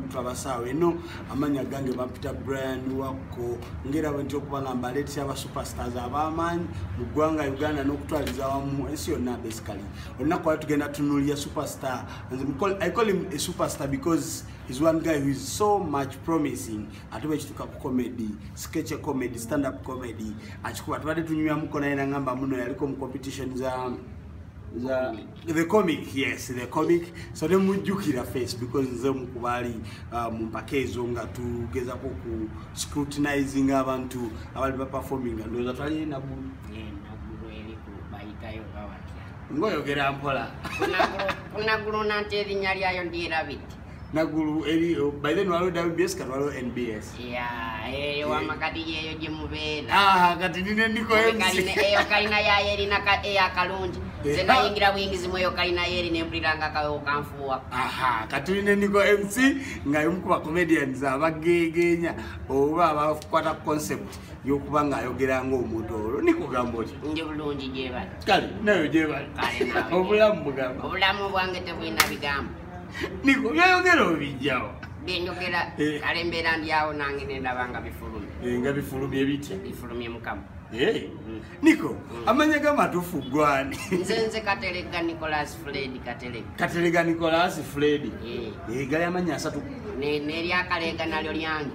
twabasaawo eno amanya gange bapita brian wakko ngaerabo nti okuba nga mbaleetesa aba superstars abamaanyi mu ggwanga uganda n'okutwaliza wamu ensi yonna basically olunaku wali tugenda tunuulira superstar i call him a superstar because is one guy who is so much promising ate bwekituuka ku comedy sketch comedy stand up comedy akikuba tubadde tunyuyamuko naye nangamba muno yaliko mu competition za za the comic yes the comic so ne mujjukira face because nze mukubaali uh, mu mpaka ezo nga tugezako ku scrutinizing abantu abali baperforming ndowooza twali enagu ngoyogera mpola kunaguluna nti erinya lyayo ndirabiti nagulu eri oh, by then walo WBS kati walo NBS yeah eh, eyo wama kati yeyo gye mubeera ah kati nine ndiko MC eyo kalina ya yeri na ka eya eh, kalungi eh, zena ah. yingira wingi zimwe eyo kalina yeri ne mpuliranga kawo kanfuwa aha kati nine ndiko MC nga yomu kuba comedians abagegenya oba abakwata concept yokuba nga ayogera nga omuntu olwo nikugamba oti ndi bulungi gyebali kale nayo gyebali obulamu bugamba obulamu bwange tebulina bigambo niko byoyogera obijjawo byenjogera eh. kale embeera ndyawo nange nendaba nga bifulumye eh, nga bifulumye bitya bifulumye mukama eh. mm. niko mm. amanya ga matufu gwani nze nze katelega nicolas fred katelega katelega nicolas fred gali amanya asatu neryakaleega nalyo lyange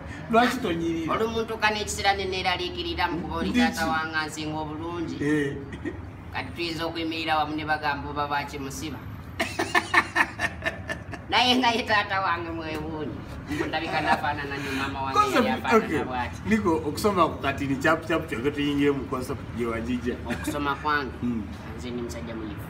lwaki tonyirira oli omuntu kana ekiseera neneeraliikirira mu kuba oli taata wanga nsinga obulungi eh. kati tuyinza okuyimirira wamu ne bagamba oba bakimusiba naye naye taata wange mwewuuni ndabika nafaanana nyo maama wangeyafaananabwati niko okusoma ku katini kyapu kyapu kyoge tuyingire mu concept gyewajija okusoma kwange hmm. nze ndi musajja muyifu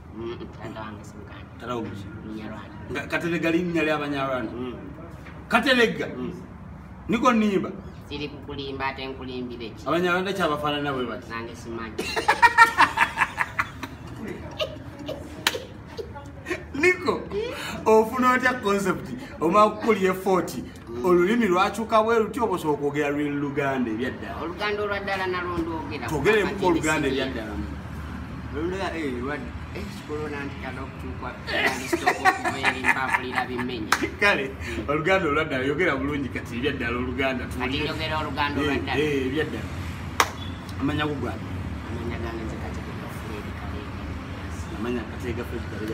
katelega linnya lyabanyarwanda mm. katelega mm. niko nimba siri kukulimba ate nkulimbire ki abanyarwanda kyabafaanana bwe bati nange simanyi niko ofuna otya concept omala kukulya efoti Mm. olulimi lwakyuka bwe lutya oba osobola okwogera lwe luganda ebyaddala oluganda olwaddala nalwo ndwogera twogeremuku oluganda ebyaddala kale oluganda olwaddala yogera bulungi kati ebyaddala oluganda ebyaddala eh, eh, amanya gugwana amanya kateega fredikalega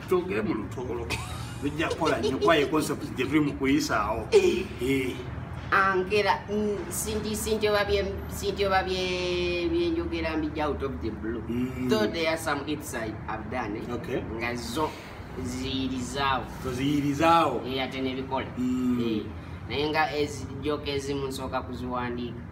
twogere mu lutoolo lujja kukola nnyo kuba ye concept gye tuli mu kuyisaawo eh. Eh. angera mm, sintioba byenjogera mbija out of the blue mm. though there are some hits i have done eh? okay. nga zo ziyirizaawo toziyirizaawo ate nebikola mm. naye nga ezijoka ezimu nsooka kuziwandiika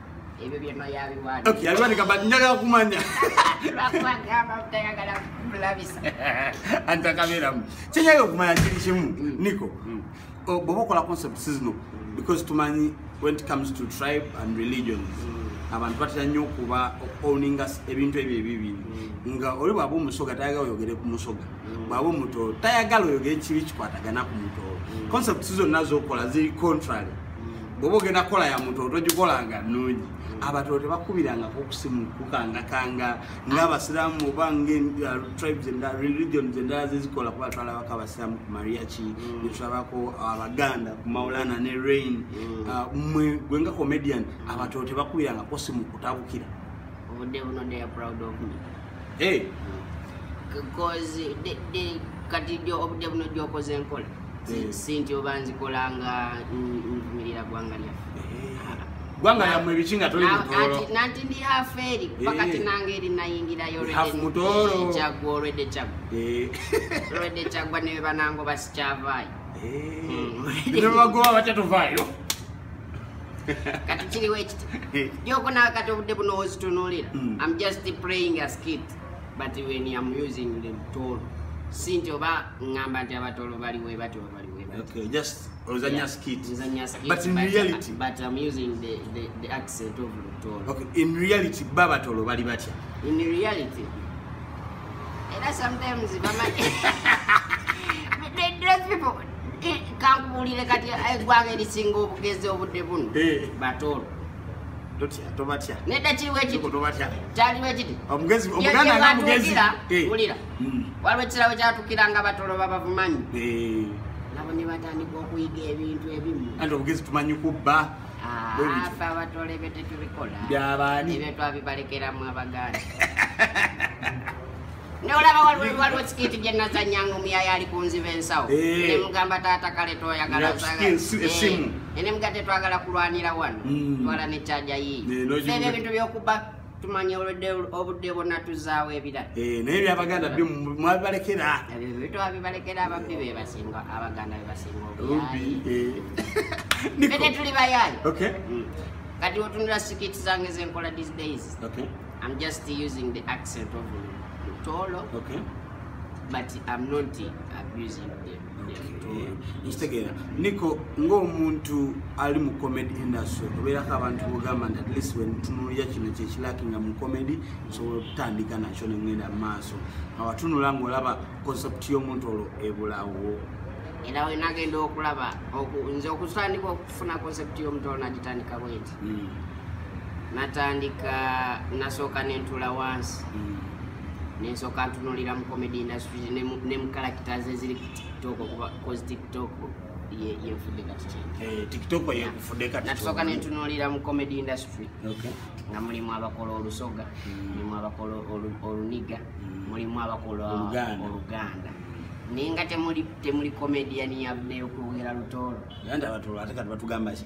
ebyo byonna yabiwanda okay yabiwandika but njagala kumanya lwakuba gamba butayagala kulabisa anti akabeeramu kyenyaga okumanya kiri kimu mm. niko mm. oh, bwoba okola concept sizino because tumanyi when it comes to tribe and religions mm. abantu batera nnyo okuba owninga ebintu ebyo ebibiri nga oli bwaba omusoga tayagala oyogere ku musoga bwaba omutoolo tayagala oyogere kibi kikwatagana ku mutoolo concepts zonna zokola ziri contrary bwoba ogenda kukola ya muntu otogikolanga nga nnungi abatolo tebakubirangako okusimu kukangakanga ngaabasiramu oba ngatribes uh, endala religions endala zezikola kuba twalabako abasiramu ku mariachi mm. netulabako abaganda ku maulana ne rain mm. uh, mwe gwe nga comedian abatolo tebakubirangako simu kutabukira obudde buno they are proud of me hey. kati obudde buno gyokoze enkola hmm. si nti oba nzikola nga nvumirira gwanga lyaffe eh. gwanga lyamwe ebiki nga toli mutoro nanti ndi hafu eri pakati eh. nange eri nayingirayo kyagwa olwedde kyagwa eh. olwedde kyagwa newe banango basikyavaayo hmm. nebagoba batya tuvaayo kati kiriwo ekiti gyoko nawe kati obudde buno ozitunulira mm. im just playing a skit but when im using the tool si nti oba ngamba nti abatolo bali webati oba bali webatinreality babatolo bali batya in reality era sometimes bama kankubuulire kati eggwanga erisinga obugezi obudde buno batoolo tobatya nedda kiriwo ekititobatya kyaliwo ekiti omugezi omuganda nga mugezi wulira hmm. waliwo ekisirawo kyatukira nga batolo babavumanyi nabo ne batandika okuyiga ebintu ebimu anti obugezi tumanyi kubba afe ah, abatole ebyo tetubikola byabaani ebyo twabibalekeramu abaganda nolaba waliwo sikiti gyenazanyanga omuyaya ali kunziba ensawo eh. nemugamba taata kale toyagalaesimu eh. eh, nemuga tetwagala kulwanira wano hmm. twala nekyaja yiiyo ebyo ebintu byokuba tumanya olwedde obudde bwonna tuzaawo ebirala eh, naye byabaganda byo mwabibalekera ebyo bitwabibalekera ababbi bebasinga abaganda bebasinga obubi eh. tuli bayaayi mm. kati otunula sikiti zange zenkola these days okay. I'm just using the accent of Lutolo. Okay. But I'm not abusing them. Instegera, Nico, ngo muntu ali mu comedy industry. Obera ka abantu bugamba at least when tunulira kino kye kilaki nga mu comedy so tandika na chone ngenda maso. Awatunula ngo laba concept yo muntu olo ebulawo. Ila we nagenda okulaba oku nze okusandika okufuna concept yo muntu olo nagitandika bwenti. mm. natandika nasooka nentula wansi mm. nensooka ntunulira mu comedy industry ne mu characters eziri ku tiktok okuba cause tiktok yenfudde kati kyekitoko eh, yenfudde kati natusooka nentunulira mu comedy industry nga mulimu abakola olusoga mm. mulimu abakola oluniga mm. mulimu abakola oluganda naye nga temuli komediyani yabneyokwogera lutoolo ate kati batugambaki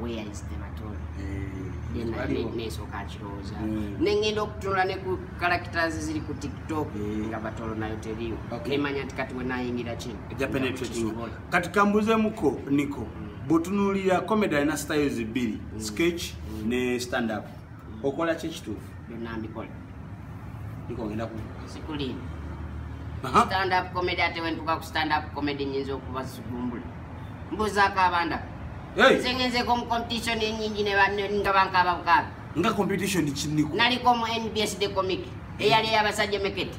where is the baton then I ne- nesooka akirowooza Mm. ne ngenda okutunula ne ku characters ziri ku tiktok Mm. nga batolo nayo teriyo Okay. nemanya nti kati wenayingira kino eja penetrating Kisobola. kati kambuzemuko niko bwotunuulira comedy alina styles bbiri sketch ne stand up okola ki ekituufu byonna mbikola ikongenda kusikulini stand up comedy ate wentuka ku stand up comedy nyinza okuba sigumbula mbuzaako abanda nze ngenzeko mu competition enyingi nga bankaaba bukaabi nga competition kiniko naliko mu nbs de comic eyali eyabasajja mekete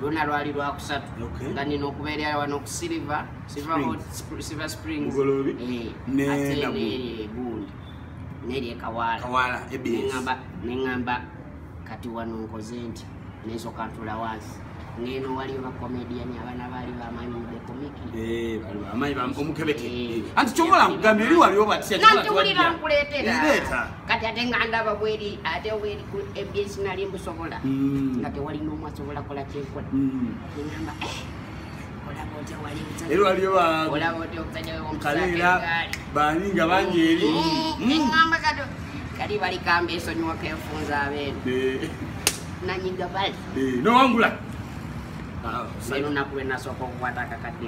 lwona lwali lwakusatu nga nina okubeerera wano ku silver silver springs eh, ate negundi nerye kawaala neŋamba kati wano nkoze nti nensoka ntula wansi ngeno waliyo bakomedian abana bali bamanyi mubekomiki eh, omukebete eh, anti kyomola nkugambye eri waliwo batya nanti wulira nkuleetera kati ate nga ndaba bweri ate weri ku ebs nali mbusobola mm. nga tewali nomu asobola kola kyenkola mm. ngamba eh, era waliyo bakaleera bani nga bangi eri kali bali kamba esonyiwa kenfunza abeeno eh. nanyiga bali eh, nowangula ah, lunaku lwenasooka okukwata akakadde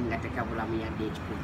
nga tekabulamu yadde ekikulu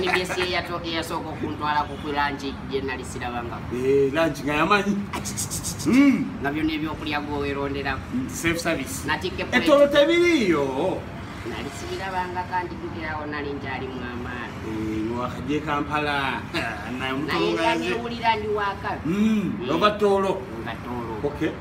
nbs eyasooka okuntwala kukulanki gyenali sirabanga eh, lanki nga yamanyi hmm. nga byona ebyokulya gweweronderako etolo tebiriiyo nali sibirabanga kandi tukirawo nali nkyali mwamaana eh, wakajja ekampala naye newulira ndi wakabi hmm, nga toolo nga toolo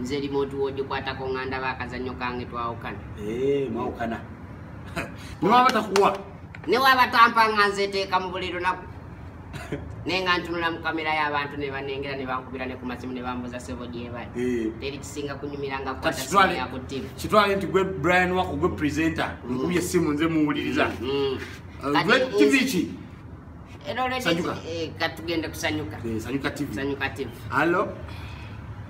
nze remote wogikwatako nga ndaba akazannyo kange twawukana eh, mwawukana newaba takuwa newaba tampa nga nzeteeka mu buli lunaku naye nga ntunula mu kamera y'abantu ne banengera ne bankubira ne ku masimu ne bambuza sebo gyebali eh. teri kisinga kunyumira nga kukwatayaku tv kitwale nti gwe brian wako gwe presenter mm. nkubye essimu nze muwuliriza mm, mm. eh, tv ki Era olwedde Sanyuka. ki- eh, katugende kusanyuka Eh, sanyuka tv sanyuka tv alo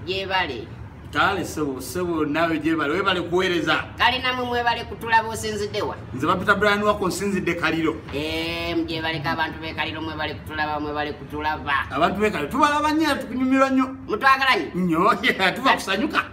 gyebale kale sebo sebo nawe gyebale webale kuweereza kale namwe mwebale kutulaba osinzidewa nze bapita brian wako nsinzidde kaliro Em, gyebaleka abantu bekaliro mwebale kutulaba mwebale kutulaba abantu bekaliro tubalaba nnyo era tukunyumirwa nnyo mutwagalanyi nnyo tuba kusanyuka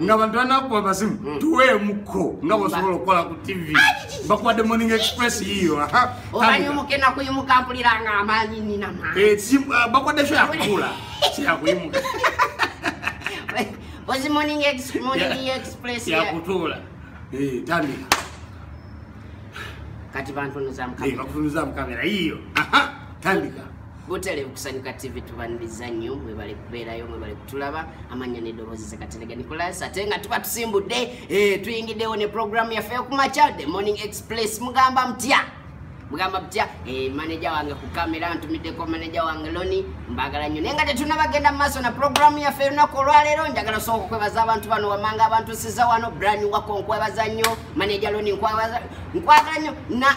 nga bantu banakuba basimu hmm. tuweemuko nga bosobola okukola ku tv bakuwadde morning express yiyo bakuwadde kyo yakuula kyeyakuyimuka yakutuula tandika kati bantunuzamukamera yiyo tandika butale kusanyuka tv tubaniriza nnyo mwebale kubeerayo mwebale kutulaba amanya nedoboozi zekaterega nicolas ate nga tuba tusimbudde eh, tuyingiddewo ne programu yaffe yokumaca the morning express mugamba mutya mugamba mutya eh, maneja wange ku kamera ntumiddeko maneja wange loni mbagala nnyo naye nga tetunabagenda mu maaso na programu yaffe erunaku olwaleero njagala sooka okwebaza abantu bano wamanga abantu siza wano brani wako nkwebaza nnyo maneja loni nkwagala nnyo na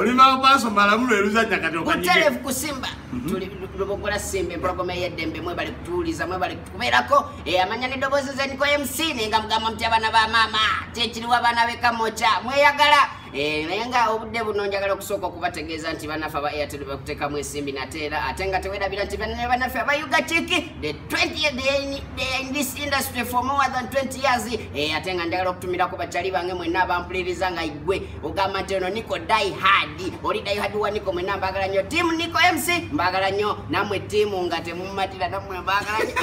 olimba maaso malamu lweluzanya kati okutelevu kusimba mhm. lubogola simba empologoma eyeddembe mwebali kutuwuliza mwebali kubeerako eh, amanya neddoboozi zeniko mc nenga mugamba muti abaana ba maama kyekiriwo abaana bekamoca mweyagala Eh, naye nga obudde buno njagala okusooka okubategeeza nti banaffe aba airtel bakutekamu ensimbi nate era ate nga tewerabira nti banne banaffe abayuga kiki the 20 they in this industry for more than 20 years eh, ate nga njagala okutumirako bakyali bange mwenna abampuliriza nga igwe ogamba nti ono niko die hard oli die hard wa niko mwenna mbagala nnyo tiamu niko mc mbagala nnyo namwe tiamu nga temumatira namwe mbagala nnyo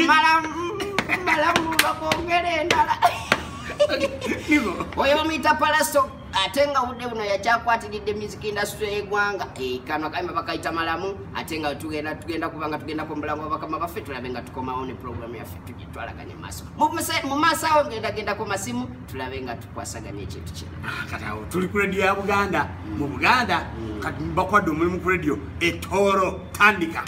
malamu malamu bakwongere endala oyo bamuyita palaso ate nga budde buno yakyakwatiridde music industry yegwanga eh, kano kayimba bakayita malamu ate nga tugenda tugenda kubanga tugendako mubulamu wabakama baffe tulabe nga tukomawo ne programu yaffe tugitwalaganye maaso mu maaso awo ngendagendako masimu tulabe nga tukwasaganya ekintu kino ah, katawo tuli ku rediyo ya buganda mu mm. buganda mm. kati bakwadde omulimu ku rediyo etooro tandika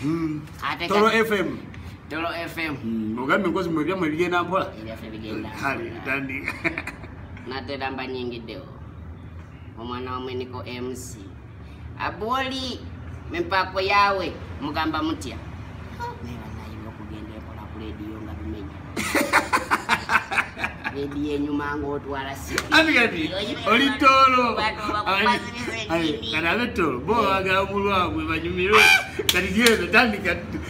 mm. toro fm Dolo FM. Mm, ogambye nkozi mwe byamwe bigenda mpola. Ebyaffe bigenda. Kale dandi. Nate damba nyingi deo. Omwana wamwe niko MC. Aboli mempako yawe mugamba mutya. Neba nayi okugenda mpola ku radio nga bimenya. Radio enyuma ngotwala si. Ani gadi. Oli tolo. Ayi, kana betolo. Bo aga mulwa mwe banyumiro. Kati genda tandika.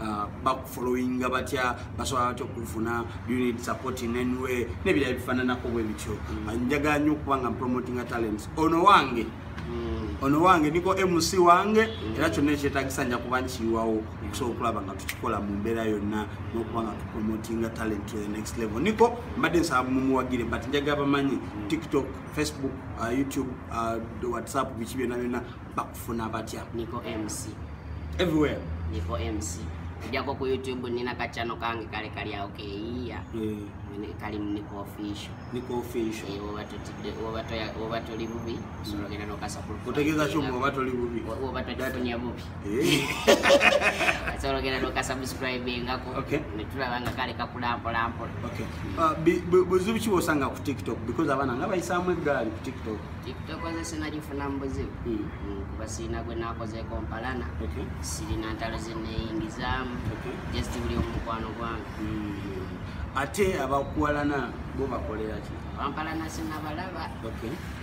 uh, bakufollowinga batya basobola batya okufuna unit support in any way nebirala bifananako bwe bityo mm. uh, njagala nnyo okuba nga mpromotinga talents ono wange mm. ono wange niko mc wange mm. era kyonna ekyetagisa nja kuba nkiyiwawo okusobola okulaba nga tukikola mu mbeera yonna n'okuba nga tupromotinga talent to the next level niko mbadde nsaba mumuwagire but njagala bamanyi tiktok facebook uh, youtube uh, whatsapp biki byonna byonna bakufuna batya niko mc everywhere niko mc ojako ku youtube nina kacano kange kale kali awo keyiya eh. kali niko official niko official eh, woba tutide woba toya woba toli bubi solo gena no kasa kulu kutegeza chuma woba toli bubi woba toli tunya bubi eh. solo gena no kasa subscribe ngako okay nitula banga kale kakula ampo lampo okay uh, buzubi chibo sanga ku tiktok because abana ngaba isamwe gali ku tiktok tokozesa nagifuna mu buzibu hmm. Hmm, kuba sirina gwe nakozeeko mpalana sirina ntalo zeneyingizaamu just buli omukwano gwange hmm. ate abakuwalana bo bakoleraki bampalana sinabalaba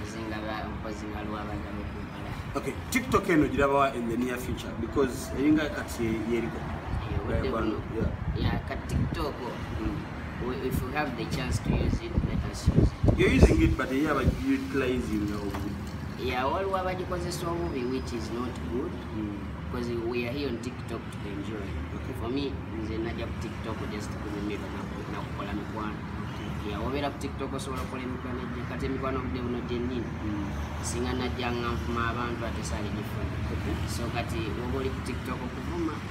nzinga nkozi nga lwabagala okumpala okay tiktok eno girabawa in the near future because eringa kati yeriko eh, ya ka tiktok mm. if you have the chance to use it let us use it you're using it but yeah but you utilizing the obubi yeah all what about because it's obubi which is not good mm. because we are here on tiktok to enjoy okay. for me nze naja ku tiktok just kunyumira na kukola mikwano yeah obera ku tiktok osobola kukola emikwano gye kati emikwano obudde buno gyennyini mm. singa najja nga nvuma abantu ate sali gifuna so kati oba oli ku tiktok okuvuma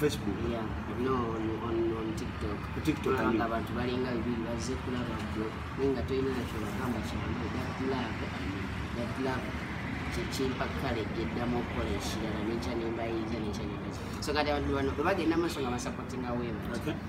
Facebook. Yeah, no, on, on, on TikTok. TikTok. Tulaba nga abantu balinga bibiri bazze kulaba gwe naye nga tolina nakyo bagamba kyamu that love that love kyekimpa kale gyeddamu okukola ekirala nekya nembayinza nekya nembaza so kati abantu bano bwe bagenda maaso nga basapotinga weema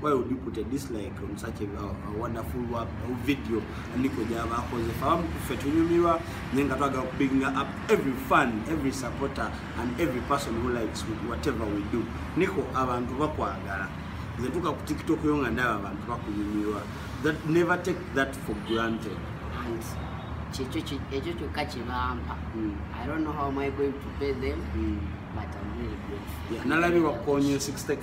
why would you put a dislike on such a, a, a wonderful work, a video andiko java akoze fahamu kufe tunyumirwa naye nga twagala kubinga up every fan every supporter and every person who likes with whatever we do niko abantu bakwagala nze tuka ku tiktok yo nga ndaba abantu bakunyumirwa that never take that for granted kyekyo ekyo kyokka kyebampa hmm. i don't know how am i going to pay them mm. but i'm really grateful yeah, nalabi wakukonya 60k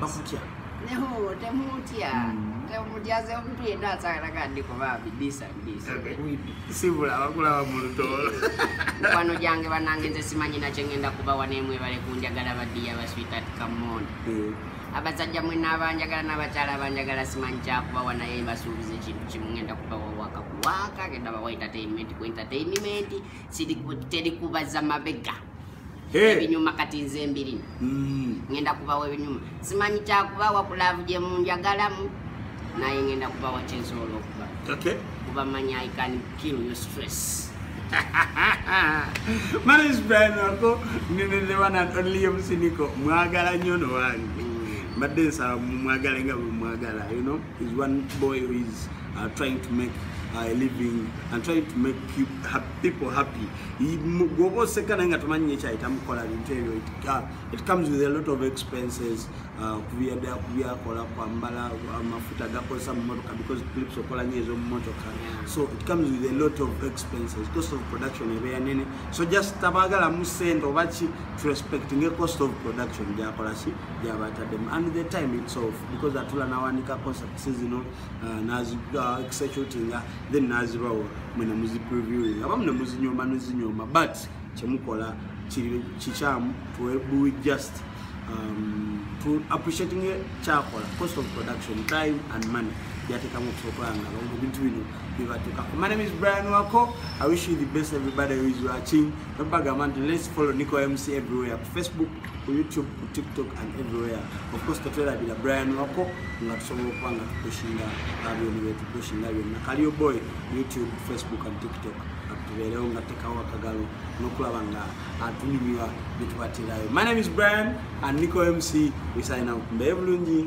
bakutya neho temutya hmm. temutyaze omuntu yenna asagalaga ndi kuba bidisa bidisa sibula abakulaba mu lutoolo mukwano gyange banange nze simanyi nakye ngenda kubawa nemwe bale kunjagala badiya baswitat kamon eh. abasajja mwena abanjagala n'abakyala abanjagala simanyi kyakubawa naye basuubiza ekintu kimu ngenda kubawa waka kuwaka genda bawa entertainment ku entertainment terikubaza mabega ebinyuma kati nze mbirina mm. ngenda kubawa ebinyuma simanyi kyakubawa kulaavu gye munjagalamu naye ngenda kubawa kyensobola okuba kuba manyi i can kill your stress manis brian wako nene the one and only omusiniko mwagala nyo no wange mm. mbadde nsaba mumwagala nga bwemwagala you know is one boy who is uh, trying to make uh, a living and trying to make people happy gwoba oseka naye nga tomanyi nyekyayita mukola bintu ebyo uh, it comes with a lot of expenses uh, kubyakola kwambala amafuta gakozesa mumotoka because clips okola nyo ezomumotoka so it comes with a lot of expenses cost of production ebeera nene so just tabagala mu sente oba ki to respect nge cost of production gyakola ki gyabatademu and the time it's off because atula nawandika concepts zino uh, nazi executinga then nazibawo mwe ne muzi previewing abamu ne muzinyooma nezinyooma but kyemukola kiri kikyamu we just um, to appreciating kyakola cost of production time and money byatekamu okusobola nga bawo ebintu bino bibatuka my name is Brian Wako I wish you the best everybody who is watching don't bag a man let's follow Nico MC everywhere Facebook ku youtube ku tiktok and everywhere of course tetwerabira brian wako nga tusobola okuba nga tukushinga byona byetukushinga byonna kaliyo boy youtube facebook and tiktok tubeerewo nga tekawo akagalo nokulaba nga atunyumira byetubatirayo my name is brian and nico mc we sign out mbaye bulungi